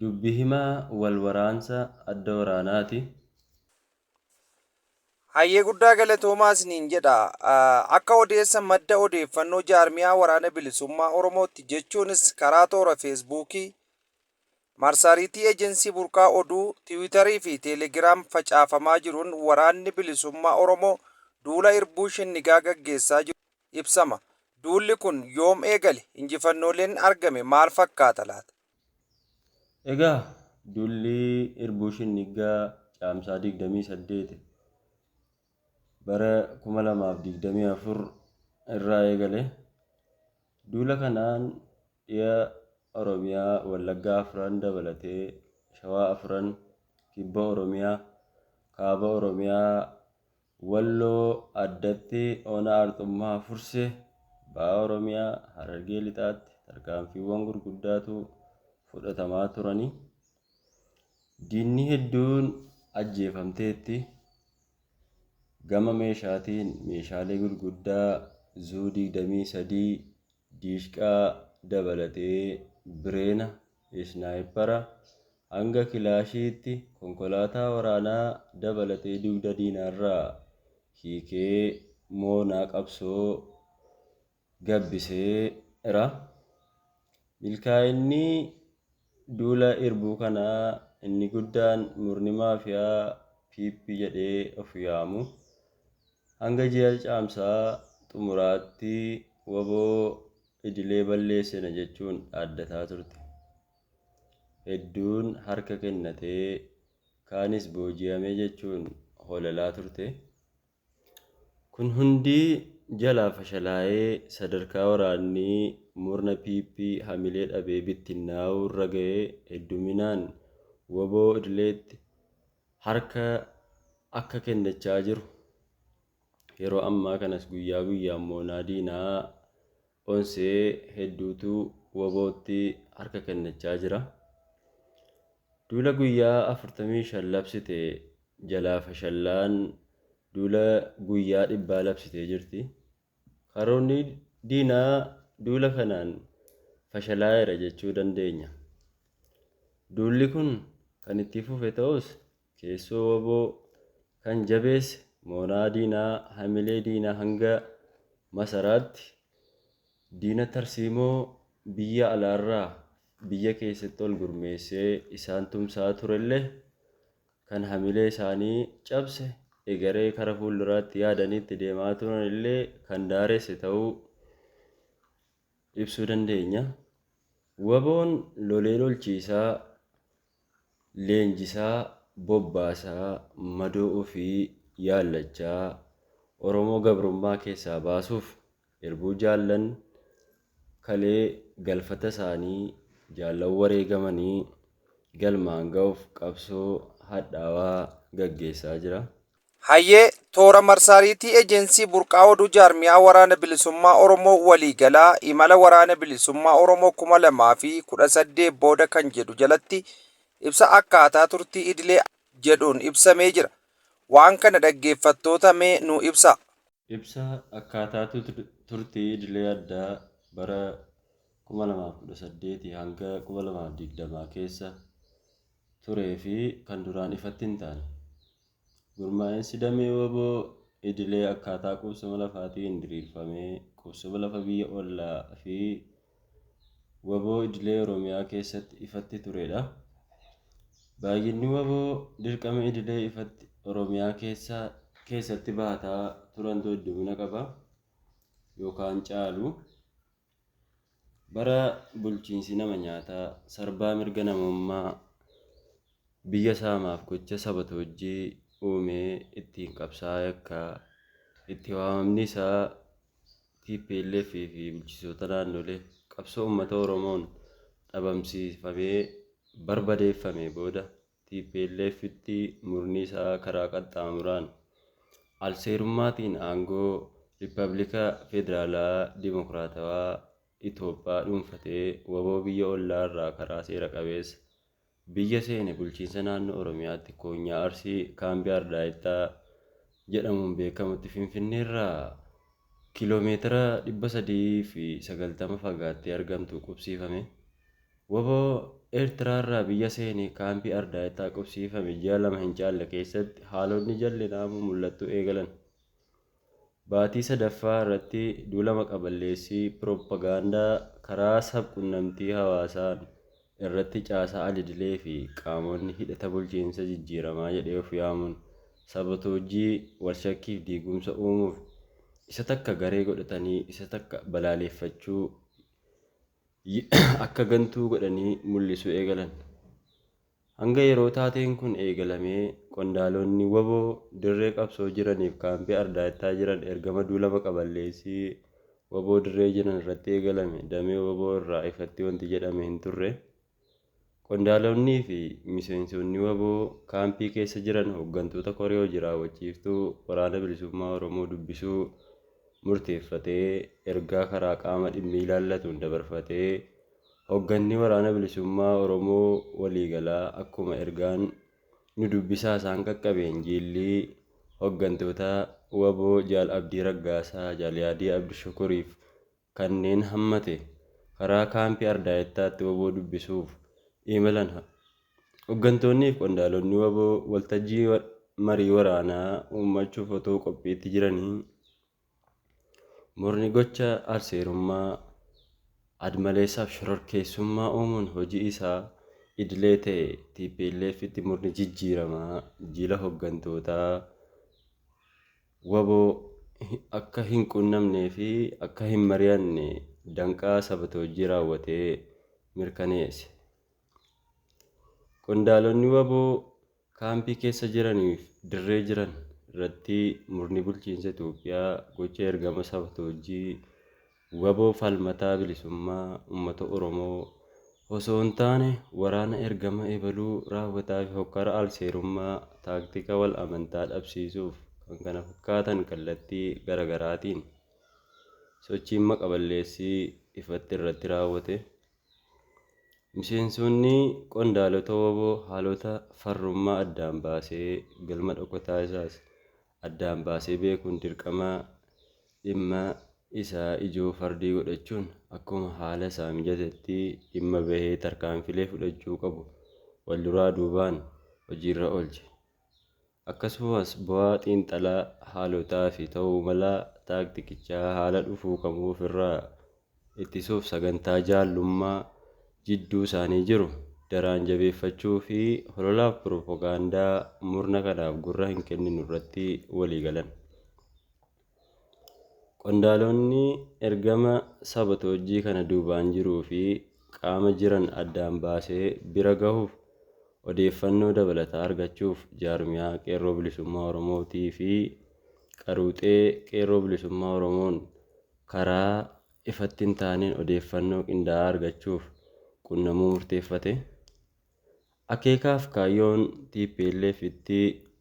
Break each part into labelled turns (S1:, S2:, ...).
S1: Dubbi himaa wal waraansa adda waraanaati.
S2: Hayyee guddaa galatoomaa isiniin jedha. Akka odeessa madda odeeffannoo jaarmiyaa Waraana Bilisummaa Oromootti jechuunis karaa toora Feesbuukii, Marsariitii Ejensii Burqaa Oduu, Tiwiitarii fi Teelegiraam facaafamaa jiruun Waraanni Bilisummaa Oromoo duula Irbuu Shinnigaa gaggeessaa jiru ibsama. Duulli kun yoom eegale? Injifannooleen argame maal fakkaata laata?
S1: Egaa duulli irbuu shinniggaa Caamsaa 28 bara 2024 irraa eegale. Duula kanaan dhiya Oromiyaa Wallaggaa afran dabalatee Shawaa afran, Kibba Oromiyaa, Kaaba Oromiyaa, Walloo, addatti Ona Arxummaa Fursee, Baha Oromiyaa, Harargee Lixaatti tarkaanfiiwwan gurguddaatu fudhatamaa turani. Diinni hedduun ajjeefamteetti. Gama meeshaatiin meeshaalee gurguddaa Zuu 23, diishqaa dabalatee bireena, isnaayipara, hanga kilaashiitti konkolaataa waraanaa dabalatee dugda diinaarraa hiikee moonaa qabsoo gabbiseera. Milkaa'inni duula irbuu kanaa inni guddaan murni maafiyaa PP jedhee of yaamu Hanga ji'a Caamsaa xumuraatti wbo idilee balleessina jechuun dhaaddataa turte. Hedduun harka kennate, kaanis booji'ame jechuun holalaa turte. Kun hundi jalaa fashalaa'ee sadarkaa waraanni murna PP hamilee dhabee bittinnaa'uu irra ga'e hedduminaan wbo idileetti harka akka kennachaa jiru yeroo ammaa kanas guyyaa guyyaan moonaa diinaa onsee hedduutu wabootti harka kennachaa jira. Duula guyyaa 45 labsite jalaa fashallaan duula guyyaa dhibbaa labsitee jirti. Karoorni diinaa duula kanaan fashalaa'eera jechuu dandeenya. Duulli kun kan itti fufe ta'us keessoo wbo kan jabeesse mooraa diinaa hamilee diinaa hanga masaraatti diina tarsiimoo biyya alaarraa biyya keessatti ol gurmeessee isaan tumsaa turellee, kan hamilee isaanii cabse, egeree kara fuulduraatti yaadanii itti deemaa turan illee kan daaresse ta'uu ibsuu dandeenya. Waboon lolee lolchiisaa, leenjisaa, bobbaasaa, madoo ofii yaallachaa Oromoo gabrummaa keessaa baasuuf Irbuu jaallan kalee galfata isaanii jaallan wareegamanii galmaan ga'uuf qabsoo hadhaawaa gaggeessaa jira. Hayyee,
S2: Toora marsaariitii Ejensii Burqaa Oduu Jaarmiyaa Waraana Bilisummaa Oromoo Waliigalaa Imala Waraana Bilisummaa Oromoo 2018 Booda kan jedhu jalatti ibsa akkaataa turtii idilee jedhuun ibsamee jira. Waan kana dhaggeeffattoota mee nuu ibsaa. Ibsa
S1: akkaataa turtii idilee addaa bara 2018 hanga 2020 keessa turee fi kan duraan ifatti hin taane. Gurmaa'insi damee wbo idilee akkaataa qubsuma lafaatiin diriirfamee qubsuma lafa biyya ollaa fi wbo idilee Oromiyaa keessatti ifatti turedha. Baay'inni wbo dirqama idilee ifatti Oromiyaa keessa keessatti bahataa turantu heddumina qaba yookaan caalu. Bara bulchiinsi nama nyaataa sarbaa mirga namummaa biyya saamaaf gocha sabatoojjii uumee ittiin qabsaa yakkaa itti waamamni isaa tplf fi bulchisoota naannolee qabsoo ummata Oromoon dhabamsiifamee barbadeeffamee booda tplf tti murni isaa karaa qaxxaamuraan alseerummaatiin aangoo Rippabilika Federaalaa Dimokiraatawaa Itoophaa dhuunfatee wbo biyya ollaa irraa karaa seera qabeessa biyya seene bulchiinsa naannoo Oromiyaatti koonyaa Arsii kaambii Ardaayittaa jedhamuun beekamutti Finfinneerraa km 390 fagaattee argamtu qubsiifame. Wbo Eertiraarraa biyya seene kaampii Ardaayittaa qubsiifame ji'a lama hin caalle keessatti haalonni jallinaa mumul'attuu eegalan. Baatii sadaffaa irratti duula maqaballeessii piroppagaandaa karaa sab-qunnamtii hawaasaan irratti caasaa alidilee fi qaamonni hidhata bulchiinsa jijjiiramaa jedhee of yaamuun sabatoojjii, walshakkii fi diigumsa uumuuf isa takka garee godhatanii isa takka balaaleeffachuu, akka gantuu godhanii mullisuu eegalan. Hanga yeroo taateen kun eegalamee qondaalonni wbo dirree qabsoo jiraniif kaampii Ardaayittaa jiran ergama duula maqaballeessii wbo dirree jiran irratti eegalame damee wbo irraa ifatti wanti jedhame hin turre. Qondaalonni fi miseensonni wbo kaampii keessa jiran hoggantoota koree hoji raawwachiiftuu Waraana Bilisummaa Oromoo dubbisuu murteeffatee ergaa karaa qaama dhimmi ilaallatuun dabarfatee Hogganni Waraana Bilisummaa Oromoo waliigalaa akkuma ergaan Nu Dubbisaa isaan qaqqabeen jiilli hoggantoota wbo Jaal Abdii Raggaasaa, Jaal Yaadii Abdishukuriif kanneen hammate karaa kaampii Ardaayettaatti wbo dubbisuuf imalan. Hoggantoonniif qondaalonni wbo waltajjii marii waraanaa uummachuuf otuu qophiitti jiranii, Murni gocha alseerummaa, admaleessaaf shororkeessummaa uumuun hojii isaa idilee ta'e TPLFtti murni jijjiiramaa jila hoggantootaa waboo akka hin qunnamnee fi akka hin mari'anne danqaa sabatoojjii raawwatee mirkaneesse. Qondaalonni waboo Kaampii keessa jiranii fi dirree jiran irratti murni bulchiinsa Itoophiyaa gocha ergama sabtoojjii wbo falmataa bilisummaa uummata Oromoo osoo hin taane waraana ergama ebaluu raawwataa fi hokkara alseerummaa taaktika wal amantaa dhabsiisuuf kkf kallattii gara garaatiin sochiin maqa balleessii ifatti irratti raawwate Miseensonni qondaalota wbo haalota farrummaa addaan baasee galma dhokotaa isaas addaan baasee beekuun dirqama dhimma isaa ijoo fardii godhachuun akkuma haala isaa mijatetti dhimma bahee tarkaanfilee fudhachuu qabu walduraa duubaan hojiirra oolche. Akkasumas bu'aa xiinxalaa haalotaa fi ta'uu malaa taaktikichaa haala dhufuu kamuu ofirraa ittisuuf sagantaa jaallummaa jidduu isaanii jiru daraan jabeeffachuu fi hololaaf piropogaandaa murna kanaaf gurra hin kenninu irratti walii galan. Qondaalonni ergama sabotoojjii kana duubaan jiruu fi qaama jiran addaan baasee bira gahuuf odeeffannoo dabalataa argachuuf jaarmiyaa Qeerroo Bilisummaa Oromoo tii fi Qaruuxee Qeerroo Bilisummaa Oromoon karaa ifatti hin taaneen odeeffannoo qindaa'aa argachuuf qunnamuu murteeffate. Akeekaaf kaayyoon tplf itti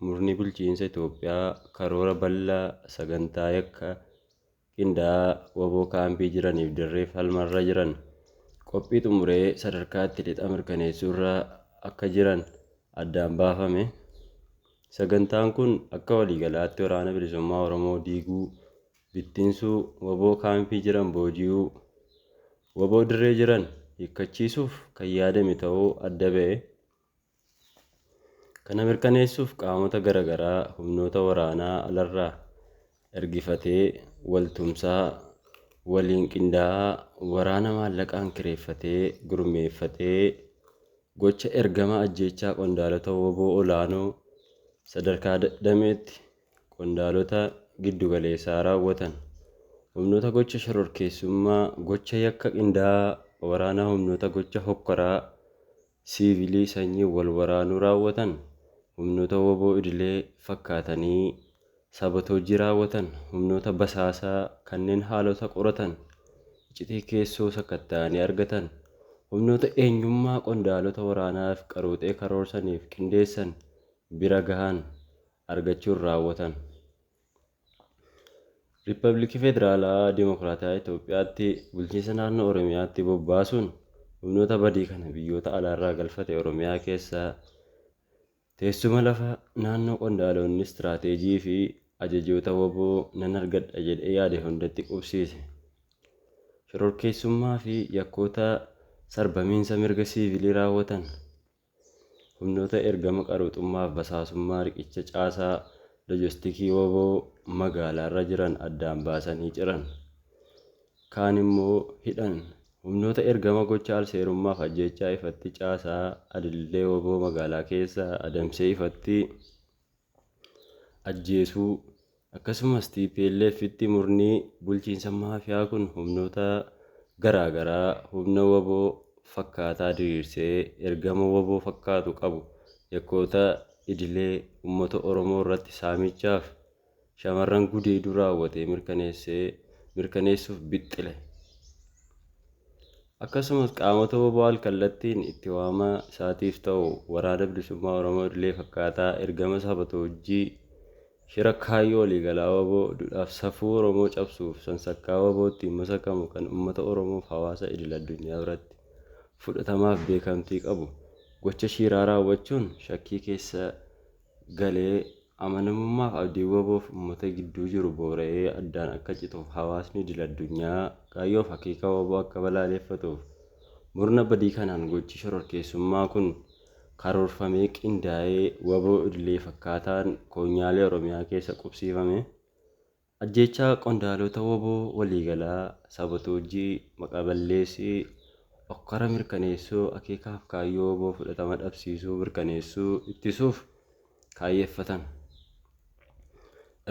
S1: murni bulchiinsa Itoophiyaa karoora bal'aa sagantaa yakka qindaa'aa wbo kaampii jiraniif dirree falmarra jiran qophii xumuree sadarkaa itti lixa mirkaneessuurra akka jiran addaan baafame. Sagantaan kun akka waliigalaatti Waraana Bilisummaa Oromoo diiguu, bittinsuu, wbo kaampii jiran booji'uu, Wbo dirree jiran hiikkachiisuuf kan yaadame ta'uu adda ba'e. Kana mirkaneessuuf qaamota garagaraa humnoota waraanaa alarraa ergifatee waltumsaa, waliin qindaa'aa, waraana maallaqaan kireeffatee gurmeeffatee gocha ergama ajjeechaa qondaalota wbo olaanoo sadarkaa dameetti qondaalota giddu galeessaa raawwatan humnoota gocha shororkeessummaa, gocha yakka qindaa'aa waraanaa humnoota gocha hokkoraa siivilii sanyiin wal waraanuu raawwatan humnoota wbo idilee fakkaatanii sabotoojjii raawwatan humnoota basaasaa kanneen haalota qoratan iccitii keessoo sakatta'anii argatan humnoota eenyummaa qondaalota waraanaaf qaruuxee karoorsaniif qindeessan bira gahan. argachuun raawwatan. Rippabilikii Federaalaa Dimokiraatawaa Itoophiyaatti bulchiinsa naannoo Oromiyaatti bobbaasuun humnoota badii kana biyyoota alaarraa galfate Oromiyaa keessa teessuma lafa naannoo qondaalonni istiraateejii fi ajajoota waboo nan argadha jedhee yaade hundatti qubsiise. Shororkeessummaa fi yakkoota sarbamiinsa mirga siivilii raawwatan Humnoota ergama qaruuxummaaf basaasummaa riqicha caasaa lojostikii wbo magaalaarra jiran addaan baasanii ciran. Kaan immoo hidhan. Humnoota ergama gocha alseerummaaf ajjeechaa ifatti caasaa adillee wbo magaalaa keessa adamsee ifatti ajjeesuu, akkasumas TPLFtti murni bulchiinsa maafiyaa kun humnoota garaa garaa humna wbo fakkaataa diriirsee ergama wbo fakkaatu qabu yakkoota idilee uummata Oromoo irratti saamichaaf shamarran gudeeduu raawwatee mirkaneessee mirkaneessuuf bixxile. Akkasumas qaamota wbo alkallattiin itti waama isaatiif ta'u Waraana Bilisummaa Oromoo idilee fakkaataa ergama sabatoojjii shira kaayyoo waliigalaa wbo, dudhaaf safuu Oromoo cabsuuf sansakkaa wbo ittiin masakamu kan ummata Oromoof hawaasa idil addunyaa biratti fudhatamaaf beekamtii qabu gocha shiiraa raawwachuun shakkii keessa galee amanamummaaf abdiin wbo fi ummata gidduu jiru boora'ee addaan akka cituuf hawaasni idil addunyaa kaayyoo fi akeeka wbo akka balaaleeffatuuf murna badii kanaan gochi shororkeessummaa kun karoorfamee qindaa'ee wbo idilee fakkaataan koonyaalee Oromiyaa keessa qubsiifame Ajjeechaa qondaalota wbo waliigalaa, saabotoojjii, maqaa balleessii, okkara mirkaneessuu, akeekaa fi kaayyoo wbo fudhatama dhabsiisuu mirkaneessuu ittisuuf kaayyeffatan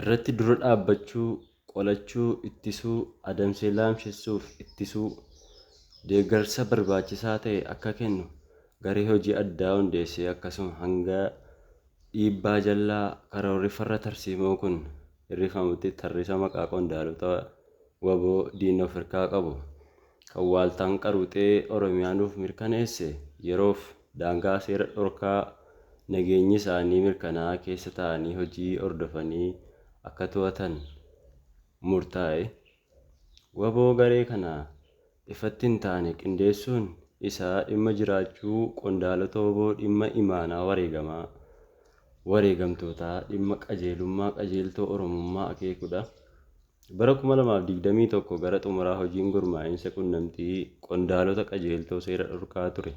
S1: irratti dura dhaabbachuu, qolachuu, ittisuu, adamsee laamshessuu fi ittisuu, deeggarsa barbaachisaa ta'e akka kennu garee hojii addaa hundeessee akkasuma hanga dhiibbaa jallaa karoorri farra tarsiimoo kun. hir'ifamutti tarrisa maqaa qondaalota wbo diinni of hirkaa qabu kan waaltaan qaruuxee Oromiyaa nuuf mirkaneesse yeroof daangaa seera dhorkaa nageenyi isaanii mirkanaa'aa keessa taa'anii hojii hordofanii akka to'atan murtaa'e. Wbo garee kana ifatti hin taane qindeessuun isaa dhimma jiraachuu qondaalota wbo dhimma imaanaa wareegamaa, wareegamtootaa, dhimma qajeelummaa qajeeltoo Oromummaa akeekudha. Bara 2021 gara xumuraa hojiin gurmaa'insa qunnamtii qondaalota qajeeltoo seera dhorkaa ture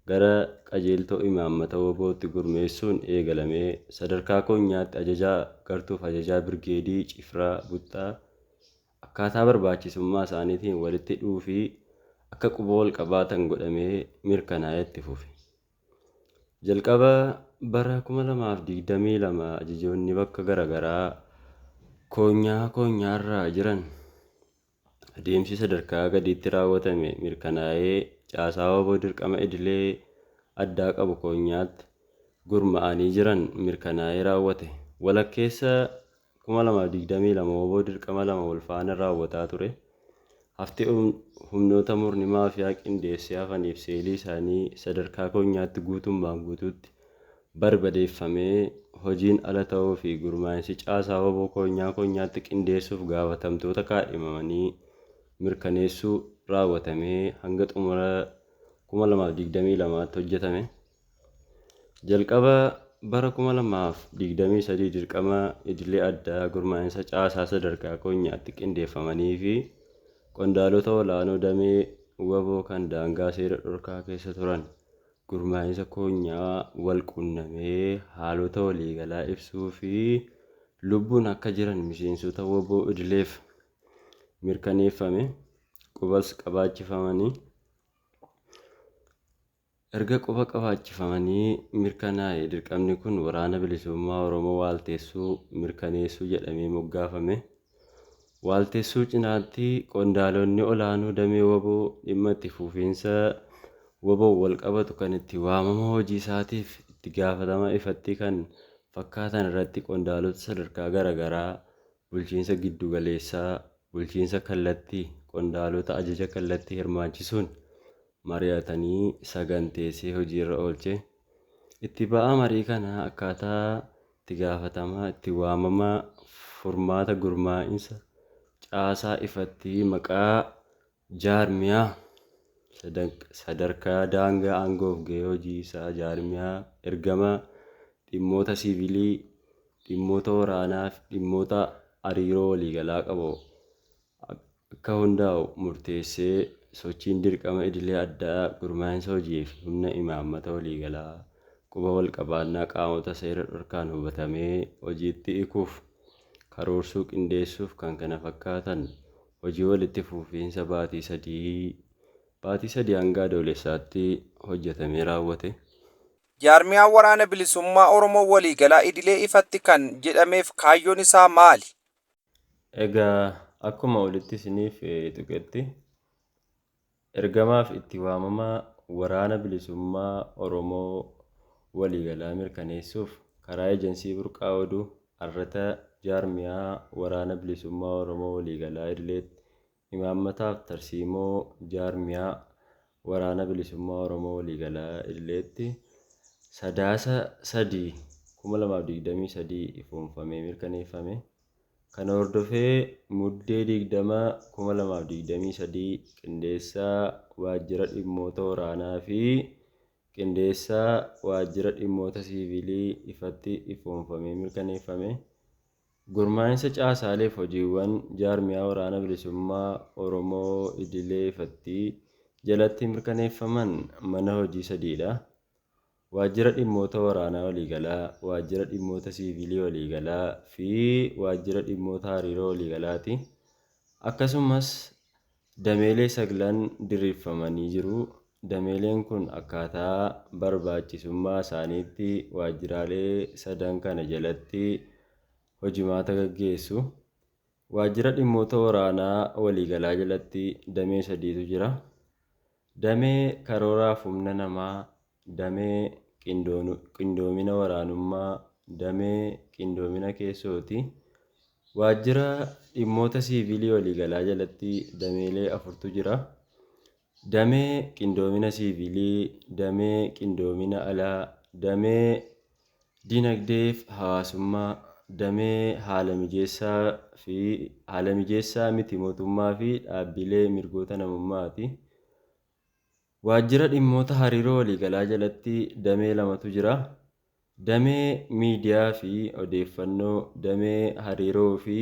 S1: gara qajeeltoo imaammata wbo-tti gurmeessuun eegalamee sadarkaa konyaatti ajajaa gartuuf ajajaa birgeedii, cifraa, buttaa akkaataa barbaachisummaa isaaniitiin walitti dhuufii akka quba walqabaatan godhamee mirkanaa'ee itti fufe. Jalqaba bara 2022 ajajoonni bakka garagaraa konyaa konyaarraa jiran, Adeemsi sadarkaa gadiitti raawwatame mirkanaa'ee caasaa wbo dirqama idilee addaa qabu koonyaatti gurma'anii jiran mirkanaa'ee raawwate. Walakkeessa 2022 wbo dirqama lama walfaana raawwataa ture. Hafti humnoota murni maafiyaa qindeessee hafaniif seelii isaanii sadarkaa koonyaatti guutummaan guutuutti barbadeeffamee hojiin ala ta'uu fi gurmaa'insi caasaa wbo koonyaa koonyaatti qindeessuuf gaafatamtoota kaadhimamanii mirkaneessuu raawwatamee hanga xumura 2022tti hojjetame. Jalqaba bara 2023 dirqama idilee addaa gurmaa'insa caasaa sadarkaa koonyaatti qindeeffamanii fi qondaalota olaanoo damee wbo kan daangaa seera dhorkaa keessa turan gurmaa'insa koonyaa wal qunnamee haalota waliigalaa ibsuu fi lubbuun akka jiran miseensota wbo idileef mirkaneeffame qubas qabaachifamanii Erga quba qabaachifamanii mirkanaa'e dirqamni kun Waraana Bilisummaa Oromoo waalteessuu, mirkaneessuu jedhamee moggaafame. waaltessuu cinaatti qondaalonni olaanoo damee wbo dhimma itti fuufiinsa wboon walqabatu kan itti waamama hojii isaatiif itti gaafatama ifatti kan fakkaatan irratti qondaalota sadarkaa garagaraa bulchiinsa giddu galeessaa, bulchiinsa kallatti, qondaalota ajaja kallatti hirmaachisuun mari'atanii saganteessee hojiirra oolche. Itti ba'aa marii kanaa akkaataa Itti gaafatamaa itti waamamaa furmaata gurmaa'insa caasaa ifatti maqaa jaarmiyaa sadarkaa daangaa aangoof gahee hojii isaa jaarmiyaa ergamaa dhimmoota siivilii dhimmoota waraanaaf dhimmoota ariiroo waliigalaa qabu akka hundaa'u murteessee, sochiin dirqama idilee addaa gurmaa'insa hojii fi humna imaammata waliigalaa quba walqabaannaa qaamota seera dhorkaan hubatamee hojiitti hikuuf, karoorsuu, qindeessuuf kkf hojii walitti fufiinsa baatii sadii, Baatii 3 hanga Adoolessaatti, hojjatamee raawwate. Jaarmiyaan
S2: Waraana Bilisummaa Oromoo Waliigalaa Idilee ifatti kan jedhameef kaayyoon isaa maali? Egaa
S1: akkuma olitti isiniif tuqetti ergamaaf itti waamamaa Waraana Bilisummaa Oromoo waliigalaa mirkaneessuuf karaa Ejensii Burqaa Oduu, Arrata Jaarmiyaa Waraana Bilisummaa Oromoo Waliigalaa Idileetti Imaammataaf tarsiimoo jaarmiyaa Waraana Bilisummaa Oromoo Waliigalaa Idileetti Sadaasa 3, 2023 ifoomfamee mirkaneeffame. Kana hordofee Muddee 20, 2023 Qindeessaa Waajjira Dhimmoota Waraanaa fi Qindeessaa Waajjira Dhimmoota Siiviilii ifatti ifoomfamee mirkaneeffame. Gurmaa'insa caasaaleef hojiiwwan jaarmiyaa Waraana Bilisummaa Oromoo idilee ifatti jalatti mirkaneeffaman mana hojii sadii dha. Waajjira Dhimmoota Waraanaa Waliigalaa, Waajjira Dhimmoota Siiviilii Waliigalaa fi Waajjira Dhimmoota Hariiroo Waliigalaati. Akkasumas Dameelee saglan diriirfamanii jiru. Dameeleen kun akkaataa barbaachisummaa isaaniitti waajjiraalee sadan kana jalatti hojimaata gaggeessu. Waajjira Dhimmoota Waraanaa Waliigalaa jalatti damee sadiitu jira. Damee karooraaf humna namaa, damee qindoomina waraanummaa, damee qindoomina keessooti. Waajjira dhimmoota siiviilii waliigalaa jalatti dameelee afurtu jira. Damee qindoomina siiviilii, damee qindoomina alaa, damee Dinagdeef hawaasummaa, damee haala mijeessaa fi haala mijeessaa miti mootummaa fi dhaabbiilee mirgoota namummaa ti. Waajjira dhimmoota hariiroo waliigalaa jalatti damee lamatu jira, damee miidiyaa fi odeeffannoo, damee hariiroo fi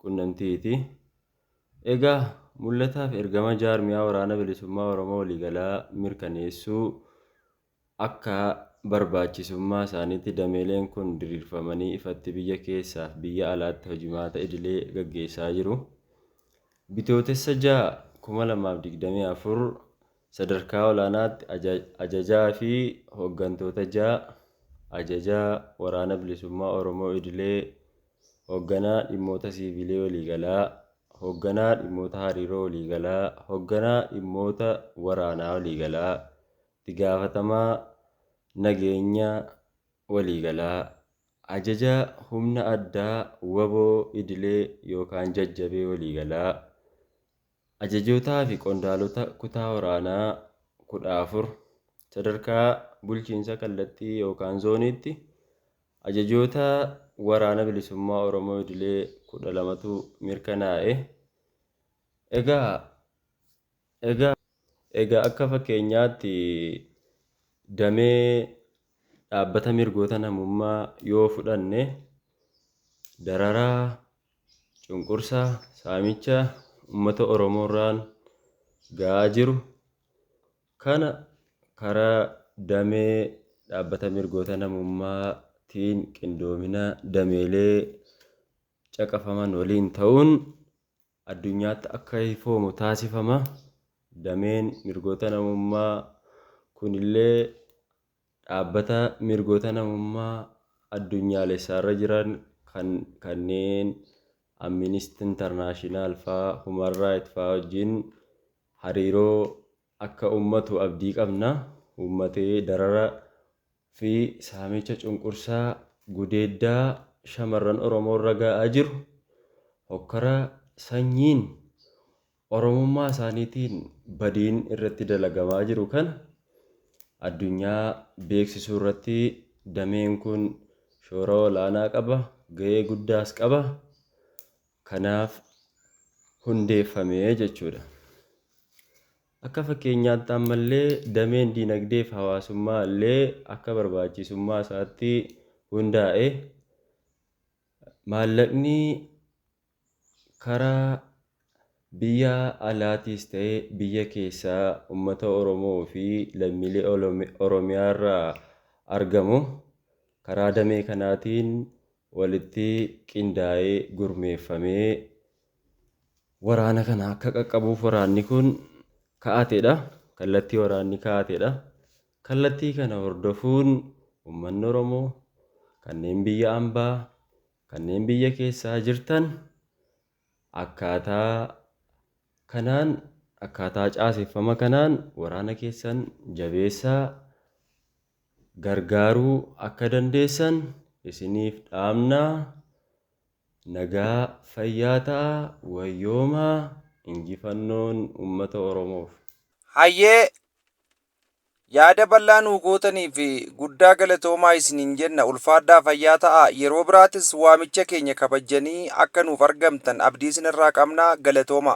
S1: qunnamtii ti. Egaa, mul'ataa fi ergama Jaarmiyaa Waraana Bilisummaa Oromoo Waliigalaa mirkaneessuu Akka barbaachisummaa isaaniitti dameeleen kun diriirfamanii ifatti biyya keessaaf biyya alaatti hojimaata idilee gaggeessaa jiru. Bitootessa 6, 2024 Sadarkaa olaanaatti Ajajaa fi Hooggantoota 6 Ajajaa Waraana Bilisummaa Oromoo Idilee Hoogganaa Dhimmoota Siiviilii Waliigalaa Hoogganaa Dhimmoota Hariiroo Waliigalaa Hoogganaa Dhimmoota Waraanaa Waliigalaa Itti gaafatamaa nageenya waliigalaa, ajaja humna addaa wbo idilee yookaan jajjabee waliigalaa, ajajootaa fi qondaalota kutaa waraanaa 14, sadarkaa bulchiinsa kallattii yookaan zooniitti ajajoota Waraana Bilisummaa Oromoo idilee 12tu mirkanaa'e. Egaa. Egaa egaa akka fakkeenyaatti damee dhaabbata mirgoota namummaa yoo fudhanne dararaa, cunqursa, saamicha ummata Oromoorraan ga'aa jiru kana kara damee dhaabbata mirgoota namummaatiin qindoomina dameelee caqafaman waliin ta'uun addunyaatti akka ifoomu taasifama. Dameen mirgoota namummaa kunillee dhaabbata mirgoota namummaa addunyaalessaarra jiran kan kanneen Amminist Intarnaashinaal faa, Human Raayit faa wajjin hariiroo akka ummatu abdii qabna. Ummatee darara fi saamicha cunqursaa gudeeddaa shamarran Oromoo irra ga'aa jiru hokkara sanyiin Oromummaa isaaniitiin badiin irratti dalagamaa jiru kana addunyaa beeksisuu irratti dameen kun shoora olaanaa qaba, ga'ee guddaas qaba. Kanaaf hundeeffame jechuudha. Akka fakkeenyaatti ammallee dameen dinagdee fi hawaasummaa illee akka barbaachisummaa isaatti hundaa'e maallaqni karaa biyya alaatiis ta'e biyya keessaa ummata Oromoo fi lammiilee Oromiyaa irraa argamu karaa damee kanaatiin walitti qindaa'ee gurmeeffamee waraana kana akka qaqqabuuf waraanni kun ka'ateedha. Kallattii waraanni ka'ateedha. Kallattii kana hordofuun uummanni Oromoo kanneen biyya ambaa kanneen biyya keessaa jirtan akkaataa kanaan akkaataa caaseffama kanaan waraana keessan jabeessaa gargaaruu akka dandeessan isiniif dhaamna. Nagaa fayyaa ta'a wayyoomaa injifannoon ummata oromoof. Hayyee
S2: Yaada bal'aa nuu gootaniif guddaa galatoomaa isiniin jenna ulfaadhaa fayyaa ta'aa yeroo biraatis waamicha keenya kabajjanii akka nuuf argamtan abdii isinirraa qabna galatoomaa.